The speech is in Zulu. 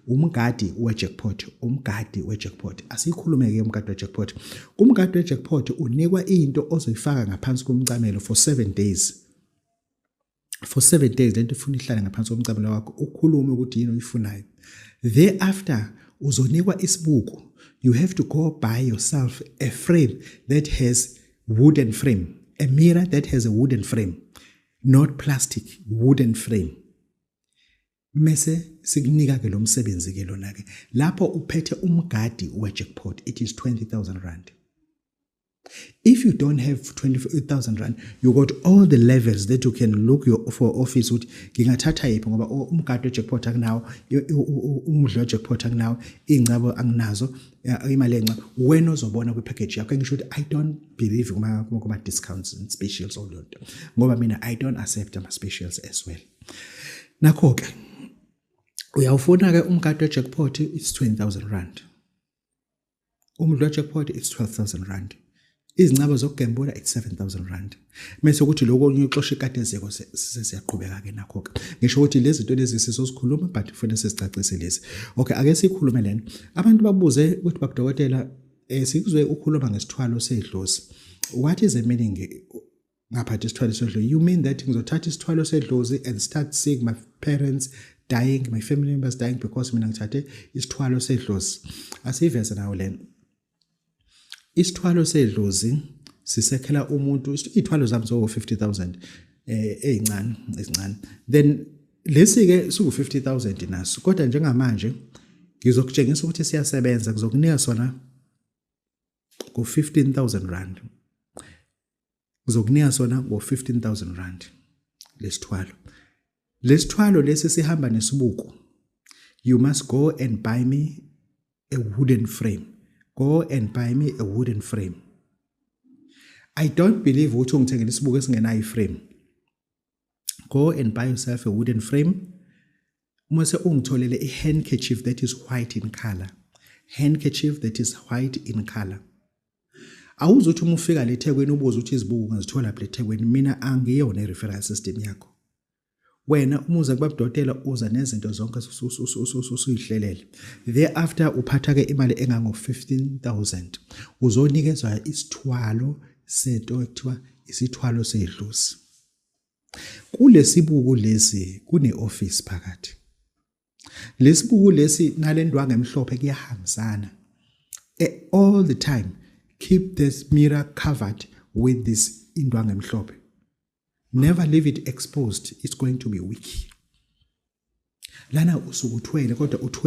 umgadi we-jackpot umgadi we-jackpot asiyikhulume-ke umgadi we-jackpot kumgadi we-jackpot unikwa into ozoyifaka ngaphansi komcamelo for seven days for seven days lento ifuna ihlale ngaphansi komcamelo wakho ukhulume ukuthi yini oyifunayo thereafter uzonikwa isibuko you have to go buy yourself a frame that has wooden frame a mirror that has a wooden frame not plastic wooden frame mese sikunika ke lo msebenzi ke lona ke lapho uphethe umgadi we-jackpot it is 20000 rand if you don't have 20000 rand you got all the levels that you can look your, for office ukuthi ngingathatha yiphi ngoba umgadi we-jackpot akunawo umdlo we-jackpot akunawo iy'ncabo anginazo imali enca wena ozobona kwi-package yakho engisho ukuthi i don't believe kuma-discounts and specials olonto ngoba mina i don't accept ama-specials as well nakho ke uyawufuna ke umkade jackpot it's 20000 rand umdlo jackpot it's 12000 rand izincaba zokugembula it's 7000 rand mase ukuthi lokho kunye uxosha ikatezeko sesiyaqhubeka ke nakho ke ngisho ukuthi lezi zinto lezi sizozikhuluma but kufanele sizicacise lezi okay ake sikhulume lena abantu babuze ukuthi bakudokotela eh sikuzwe ukhuluma ngesithwalo sedlozi what is the meaning ngaphatha isithwalo sedlozi you mean that ngizothatha isithwalo sedlozi and start seeing my parents dying my family members dying because mina ngithathe isithwalo sedlozi asiyiveze nawo lena isithwalo sedlozi sisekhela umuntu ithwalo zami so 50000 eh ezincane ezincane then lesi ke siku 50000 naso kodwa njengamanje ngizokutshengisa ukuthi siyasebenza kuzokunika sona ngo 15000 rand ngizokunika sona ngo 15000 rand lesithwalo lesithwalo lesi sihamba nesibuko you must go and buy me a wooden frame go and buy me a wooden frame i don't believe ukuthi ungithengela isibuko esingenayo iframe go and buy yourself a wooden frame uma se ungitholele a handkerchief that is white in color handkerchief that is white in color awuzothi uma ufika le thekwini ubuze ukuthi izibuko ungazithola phi le thekwini mina angiyona i-referral system yakho wena uma uza kubabudotela uza nezinto zonke usuyihlelele thereafter uphatha-ke imali engango-15000 uzonikezwa isithwalo sento ekuthiwa isithwalo sedlusi Kulesibuku lesi kune-office phakathi. Lesibuku lesi nalendwangu emhlophe kuyahambisana. E, all the time keep this mirror covered with this indwangu emhlophe. Never leave it exposed, it's going to be weak. Lana usukuthwele kodwa uthwele